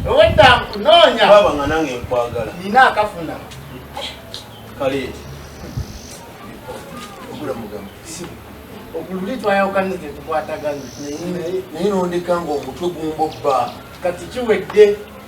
obwedda nkunoonya baba nga nange nkwagala nina akafuna kale ogula mugamba okululi twayawukana tetukwatagana naye nondeka nga omutwe gumbobba kati kiwedde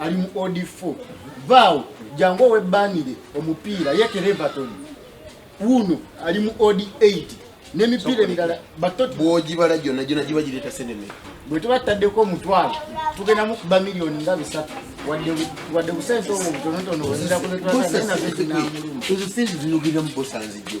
ali mu od 4 vaawo jangu owebbanire omupiira ye kerevaton wuno ali mu od 8 n'emipiira emirala batoti bwogibala gyonna gyona giba gireeta seneme bwe tuba tutaddeko omutwalo tugenda mukuba miliyoni nga bisatu wadde busente obwo butonotono bwezirakuzetoaezo sente zinogiremu bosanzijjo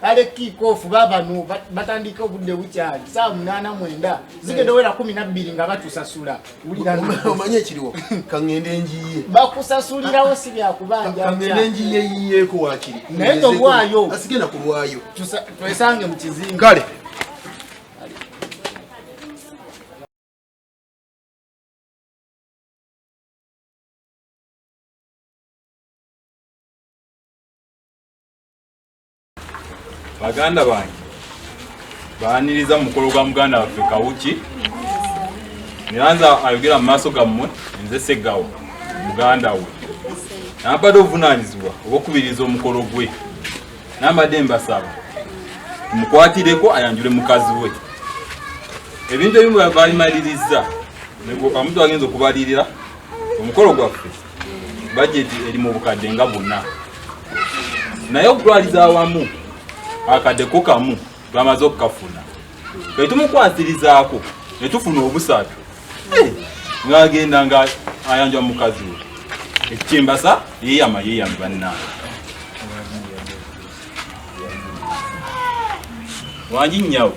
kale kiikoofu babano batandika obudde bukyali saa munaana mwenda zigenda owera kumi nabbiri nga batusasula omanye ekiriwo kaŋende njiye bakusasulirawo si byakubanjaŋende njiye yiyeeko wakiri naye nobwayo asigenda kulwayo twesange mu kizimbe kale baganda bange baaniriza mu mukolo gwa muganda waffe kawuki neranza ayogera mu maaso gammwe nze seggawo muganda we nabadde obuvunaanyizibwa obwokubiriza omukolo gwe nabadde mbasaba mukwatireko ayanjule mukazi we ebintu ebimu balimalirizza omuntu agenza okubalirira omukolo gwaffe bajeti eri mu bukadde nga buna naye okutwaliza awamu akadde ko kamu bamaze okukafuna etumukwasirizaako netufuna obusatu eh, ngagenda nga ayanja mukazi we ekikyembasa yeyama yeyama bannange wangi nyawo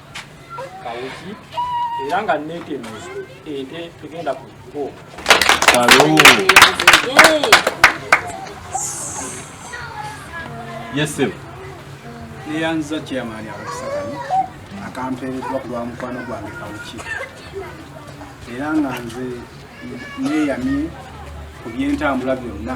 kawuki era nga netemuzi ente tugenda ku kkubo yesebo neyanziza chairman abakusakani akampeereddwa ku lwa mukwano gwange kawuki era nga nze neyamye ku byentambula byonna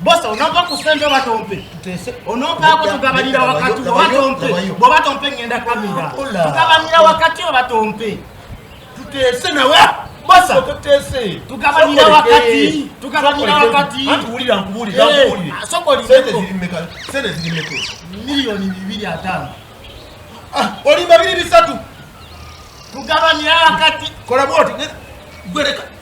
bosa onova ku sente oba tompe onovaako tugabanira wakati oba tompe bwoba tompe ngenda kamira tugabanira wakati oba tompe tuteese nawe bosa tugabanira wakati tugabanira wakati sokolimeko miliyoni bibiri ataano ah, olimba biri bisatu tugabanira wakati kola bwoti gwereka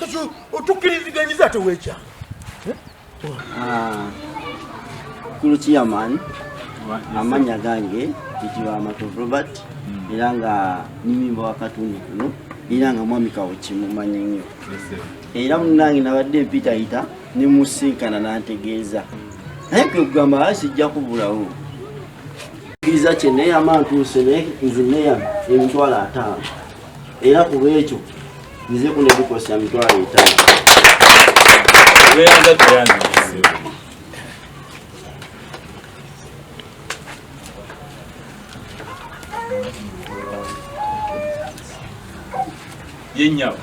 kati otukiriziganyiza ate wekyanga ah, kulu chairman amanya gange kitibwa matu robert hmm. era nga nimimba wakatundu kuno era nga mwami kawo kimumanyi nnyo era munange nabadde mpitayita nemusinkana nantegeeza naye kwekugamba asijja kubulawo kiriza kye neyama ntuuse naye nze neyama emitwalo ataano era kuba ekyo nze kuno ebikosa emitwalo etaano yenyabo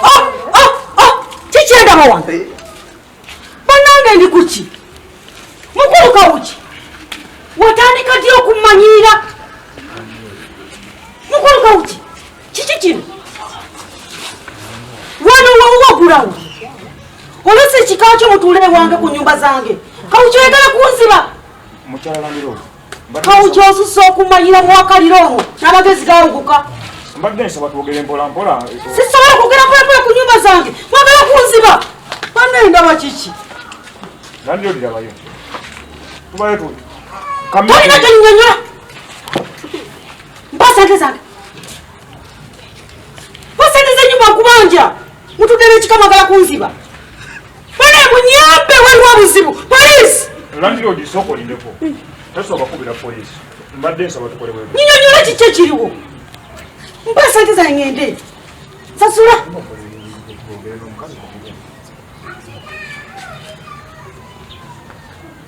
ah, ah, ah, kikyendaba wange banange ndi kuki mukulu kawuki watandika ddi okumanyiira mukulu kawuki kiki kino wano wawuwagulawo olwesi ekika kyo mutuule ewange ku nyumba zange kawuki oyagala kunziba kawu kyosusa okumanyira muwakalira omwo n'amagezi gawuguka mbadde nsaba twogere mpolampola sisobola kwogera mpolampola ku nyumba zange mwagala kunziba banaye ndaba kiki nandi olirabayo tubayo tu tolina gyonyonyola mpa sente zange Basendeze nyumba nkubanja. Mutudele chikama gala kunziba. Bana munyambe waliwo obuzibu. Police. Landlord soko lindeko. Taso bakubira police. Mbadde nsaba tukole wewe. Nyinyo nyola kiche kiriwo. Mpa sente za ngende. Sasula.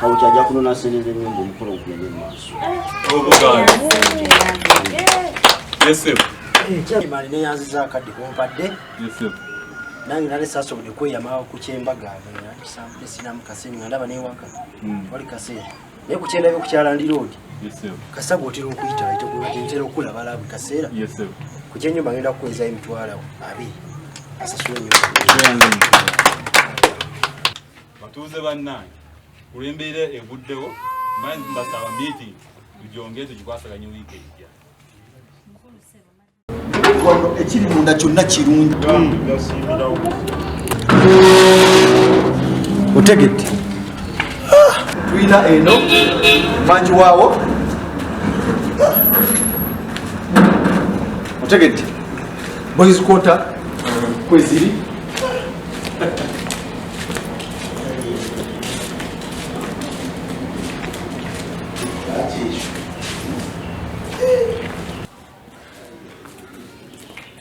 kawuti ajja kunona sente zenyumba omukolo gugende mumaaso mani neyanziza akadde kumpadde nange nali sasobode kweyama ku kyembaga nakisambude sinamu kasente nga ndaba newaka hmm. wali kasente naye ku kyendabye ku kyalandi roodi kasaga otera okuyita ntera okulaba labu kaseera ku kyenyumba ngenda kukweza emitwalo abiri asasula enyumba batuuze bannange kulwembeera eguddewo mbanzi mbasaba meeting tugyongere tugikwasaganye wiiki ejja ekiri munda kyonna kirungi otegedde tulina eno mangi waawo otegedde boys quarter kweziri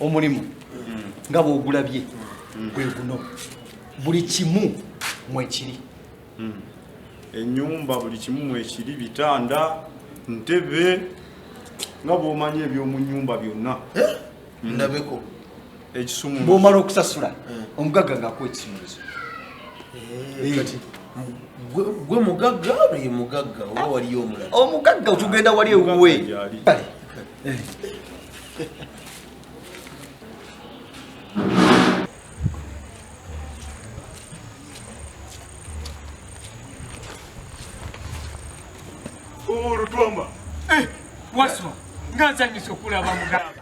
omulimu nga bwogulabye gwe guno buli kimu mwekiri hmm. enyumba buli kimu mwekiri bitanda ntebe nga bwomanyi ebyomunyumba byonna eh? hmm. ndabeko bwomala okusasula eh. omugagga ngaakuwa ekisumuluzo eh, eh. gwe mugagga ye mugagga oba waliyo omulala omugagga otugenda wali ewuwe olutwama waswa nga nsanyusa okulaba mugamba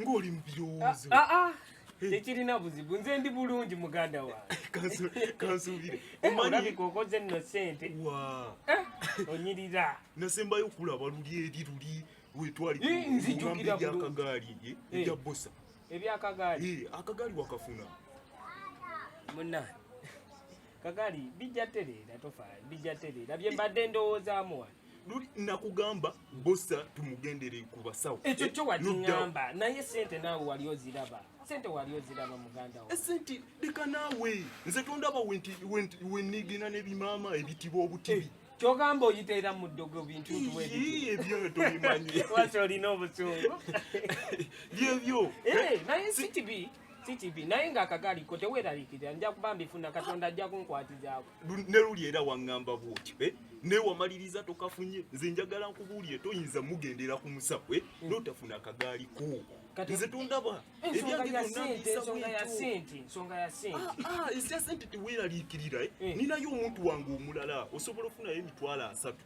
ng'oli mu birowoozo ah, ah, ah. tekirina buzibu nze ndi bulungi muganda wangekansuubire eh, omanyika okoze nno sente eh, onyirira nasembayo okulaba luli eri luli wetwaliakagaali eh, ebya bosa ebyakagaali akagaali wakafuna muna kagaali bijja tereera tofa bijja tereera bye mbadde ndowoozamu wano luli nakugamba bosa tumugendere ku basawo ekyo kyo wakingamba naye sente naawe wali oziraba sente wali oziraba muganda wo esente eh, leka naawe nze tondaba wenigina nebimaama ebitiba obutibi eh, kyogamba oyiteera mu ddogo bintu ntuebyotobimanyiwasi olina obusungu byebyo eh, naye sikibi CTV naye nga akagaali ko teweeraliikirira nja kuba mbifuna katonda ajja kunkwatizaako ne luli era waŋŋamba bwotyo eh? naye wamaliriza tokafunye nze njagala nkubuulire toyinza mugendera ku musabwe eh? mm. notafuna akagaali ko nze tondaba esya sente teweeraliikirira ninayo omuntu wange omulala osobola ofunayo emitwalo asatu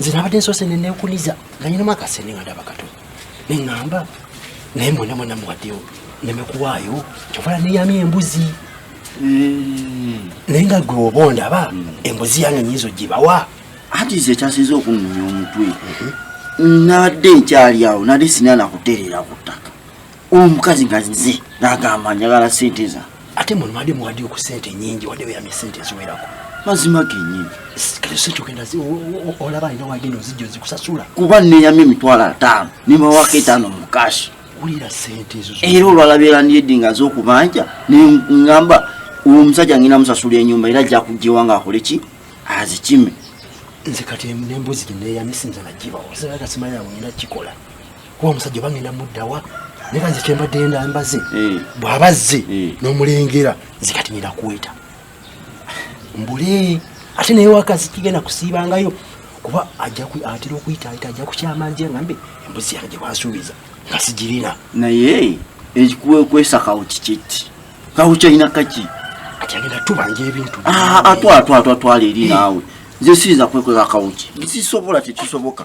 nze nabadde nsoose ne neekuliza nga nyinamu akasente nga ndaba kato ne ŋŋamba naye mwena mwena muwaddeyo neme kuwaayo kyovala neyamya embuzi hmm. naye nga gwe oba ondaba hmm. embuzi yange nyinza ogibawa anti nze ekyasinza okunnonya omutwe hmm. nabadde nkyali awo nali sinana kutereera ku ttaka omukazi nga nze nagamba njagala sente za ate mulumadi muwadi ku sente nyingi wadde weyamye sente eziwerako mazima genyini kati sente ogenda olaba alina wagenda ozijja ozikusasula kuba neyamye emitwalo ataano nimawako etaano mu kashi wulira sente ezo era olwalabeera ndiyedde nga zokubanja nengamba omusajja ngenda musasula enyumba era ajja kujjewa nga akole ki azikime nze kati nembuzi gineyamye sinza nagibawo sinaga simanyi awo ngenda kikola kuba omusajja obangenda muddawa naye kanze kyembadde enda mbaze eh. bw'aba azze eh. n'omulengera nze kati nina kuweta mbule ate naye wakazi kigenda kusiibangayo kuba atera okuyitaayita ajja kukyama nje ngambe embuzi yange gyebasuubiza nga sigirina naye ekikuwekwesa kawo kikiki kawo kyalina kaki ati agenda tubanja ebintu ah, atwatwatwatwala eri eh. naawe nze siyinza kwekweka kawuki nsisobola tekisoboka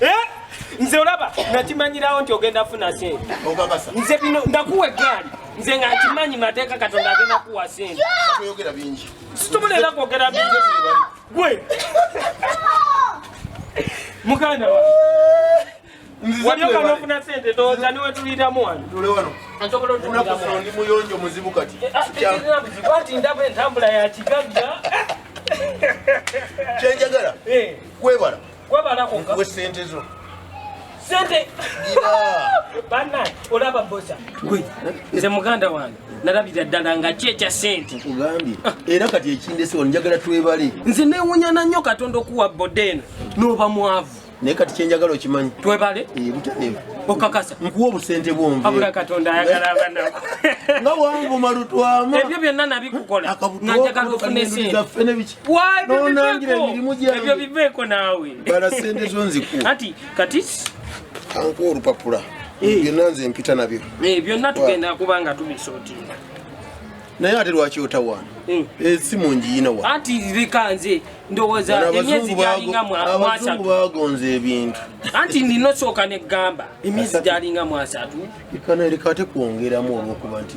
Eh? nze olaba nakimanyirawo nti ogenda funa sente nze bino ndakuwa eggaali nze nga nkimanyi mateeka katonda agenda kuwa sente situbula era kwogera bingi gwe muganda wa waliokanofuna sente toza niwe tuliramu wano ndi muyonjo muzibu kati eh, ah, eh, eh, wati ndaba entambula ya kigagga kyenjagala kwebala nkuwe sente zo sente bana olaba bosa gwe nze muganda wange nalabira ddala nga ki ekya sente ogambye ah. era kati ekindesewa njagala twebale nze newunyana nnyo katonda okuwa boda eno noba mwavu naye kati kyenjagala okimanyi twebale eh, butanevu okakasa nkuwa obusente bwonveabula katonda ayagala abanako nga wanvuma lutwama ebyo byonna nabikukola nga njagala ofuna esente nonangira emirimu gyebyo biveeko naawe bala sente zo nziku ati kati kanku olupapula eh. byonna nze mpita nabyo eh, byonna tugenda kuba nga tubisotinga naye ate lwaki otawaana eh. esimu eh, njiyina wa ati leka nze ndowooza emyezi gyalinga mwasatu bagonza ebintu anti nina osooka ne gamba emyezi gyalinga mwasatu ikana leka ate kwongeramu olwokuba nti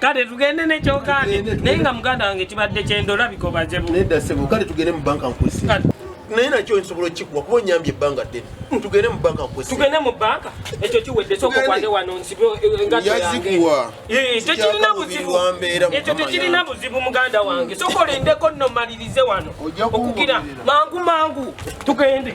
kale tugende nekyogande naye nga muganda wange kibadde kyenda olabika obaze bu nedda sebo kale tugende mu banka nkusi naye nakyo nsobola okikuwa kuba onyambye ebbanga ddene tugende mu banka nkusi tugende mu banka ekyo kiwedde sooka okwande wano nsibe eh, engatto yange eh, tekirina buzibu ekyo tekirina buzibu muganda wange sooka olindeko nno malirize wano okugira mangu mangu tugende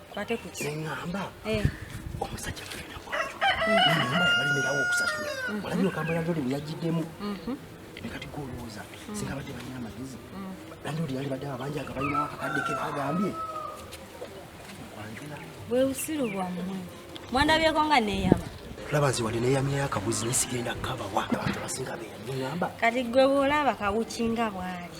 Kwate ku ki? Ngamba. Eh. Omusajja mwana wange. Ngamba yabali mira wo kusasula. Mm-hmm. Wala nyo kamba yandoli muyajidemu. Mhm. Nekati ko roza. Mm-hmm. Singa bade banyina magizi. Mm-hmm. Yandoli yali bade abanja akabayina akakade ke bagambye. Wewe usiru bwa mwe. Mwanda bye konga ne yaba. Laba nzi wali ne yamya yakabuzi ne sigenda kaba wa. Abantu basinga be yanyamba. Kati gwe bolaba kawuchinga bwali.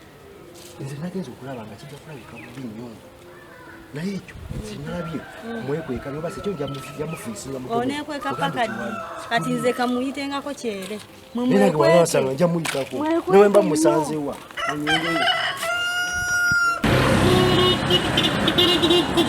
nze nagenza okulaba nga kijja kulabika bubi nnyo naye ekyo sinalabye mwekweka noba sekyo jamufiisingaonekweka paka ddi kati nze kamuyitengako kyere mwemwekwekewasanga nja muyitako nawe mba musanzewa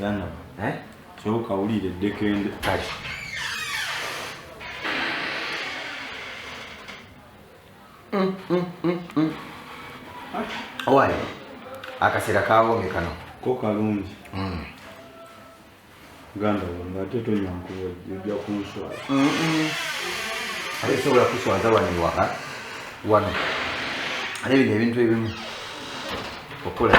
Yana, eh? Kyoka ulire dekende. Kati. Mm, mm, mm, mm. Owaye, akasera kawome kano. Ko kalungi. Mm. Ganda wange ate tonyankuwa ojja kunswala. Mm -mm. Ate sobola kuswaza wano ewaka. Wano. Ate bino ebintu ebimu. Okola.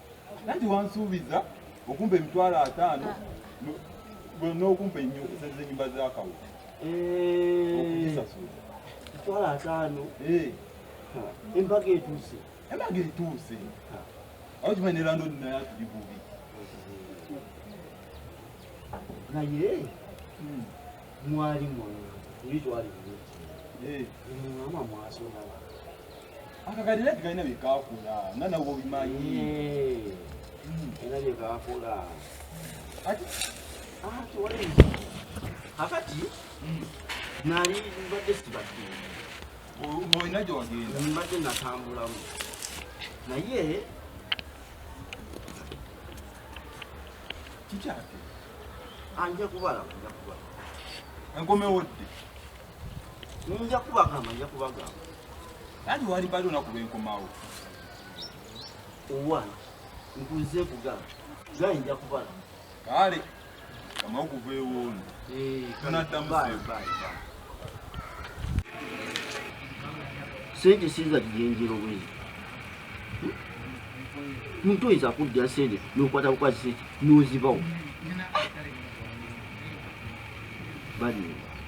nanti wansuubiza okumpa emitwalo ataano n'okumpa enyumba zakawo eh. okuzisasula emitwalo ataano eh. embaga etuuse embaga etuuse awo kimanyi ne landodi naye atuli bubi naye hmm. mwali mwana oli twali mwana eh. mwasonaa akakalira kalina byekakola nga nawe obimanyi era byekakola akati nali mbadde sibadde olina gyewagenda mbadde natambulamu naye kikyate anja kubalaba nja kubalaba enkomewo dde Nja kubagamba, nja kubagamba. Yaani wali bali unaku lwenkomawo. Owana, nkuze kugamba. Naye nja kubala. Kale, kama okuva ewuuno. Eh, tunaddamu sente. Sente siza kigenjero bwezi. Muntu oyinza kuddira sente n'okwata bukwasi sente n'ozibawo. Bali.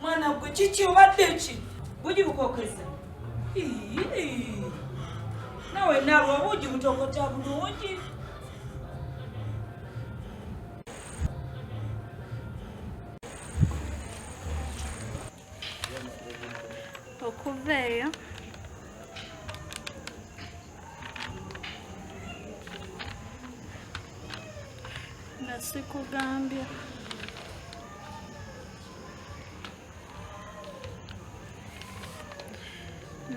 mwana gwe kiki obadde ki bugi bukokeza nawe nalwa bugi butokota bulungi okuva eyo sikugambye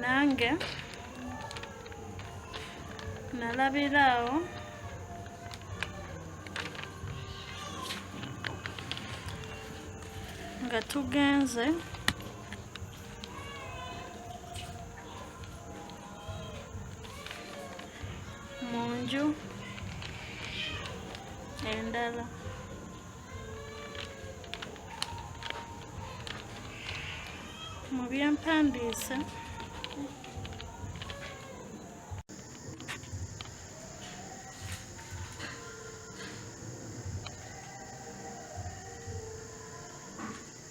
nange nalabiraawo nga tugenze mu nju endala mu byempandiise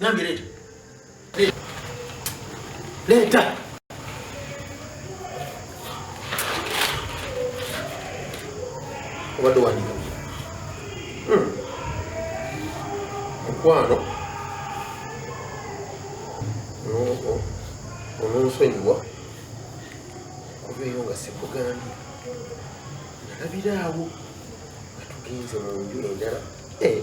Nange leeta. Leeta. Obadde wandiika. Hmm. Mukwano. Ononsonyiwa. Kuba eyo nga sikugambye. Nalabiraawo nga tugenze mu nju endala. Eh.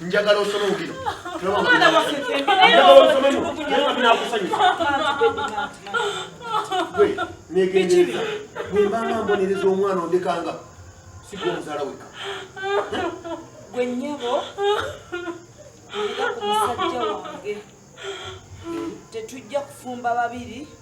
njagala osome mubino negendereza bwembanga mbonereza omwana ondekanga sigwa omuzaala weka gwe nyabo nga ku musajja wange tetujja kufumba babiri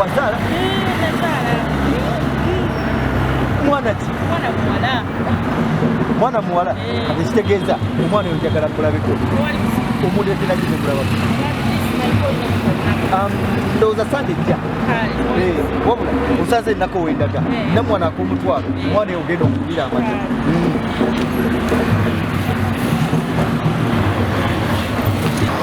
Wazala? Mwana ki? Mwana muwala. Mwana muwala? Kati kitegeeza omwana oyo njagala kulabiko. Omuntu etera kino kulaba. Um, ndowooza sande jja eh, wabula osaza ennaku owendaga eh. namwana akomutwalo eh. omwana eyo ogenda okubira amata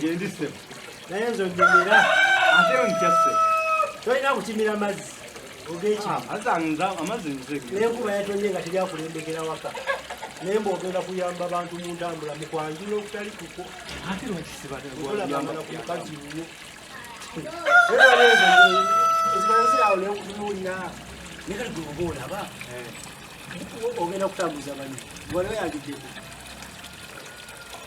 Gyendi ssebo. Naye nze onyumira. Ate ontya ssebo. Tolina kukimira mazzi. Ah, nenkuba yatonye nga teri akulembekera waka naye mba ogenda kuyamba bantu mu ntambula mu kwanjula okutali kuko olabamanakukazi nyo ezibanzirawo nekutunulira naye kati gweoba olaba eh. ogenda kutambuza banyo waliwo yagideko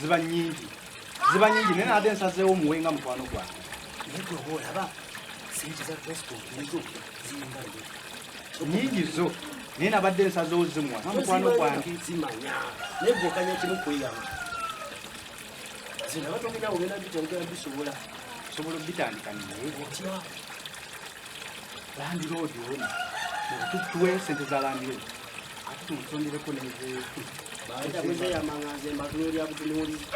ziba nyingi ziba nyingi naye nade nsazeewo muwenga mukwano gwange naye gwe oba olaba sente za facebook nizo ziringa nyingi zo naye nabadde ensaza ozimwa namukwano gwange zimanya naye gwekanya kimu kweyama zinabatongera ogenda bitandika bisobola sobola obitandika naye otya landiroodi ono tuwe sente za landiroodi ate tumusondereko nezeyamanganzembatunolyabutuniwulizi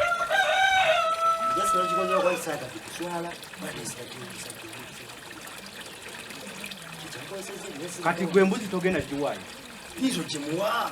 kati gwe mbuzi togenda giwayo izo gimuwa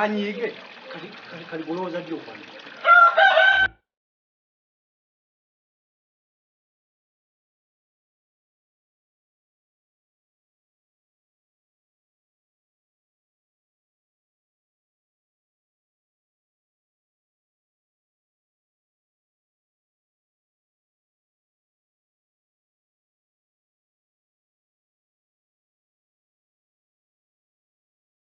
anyiige kali bulowooza ddi okwange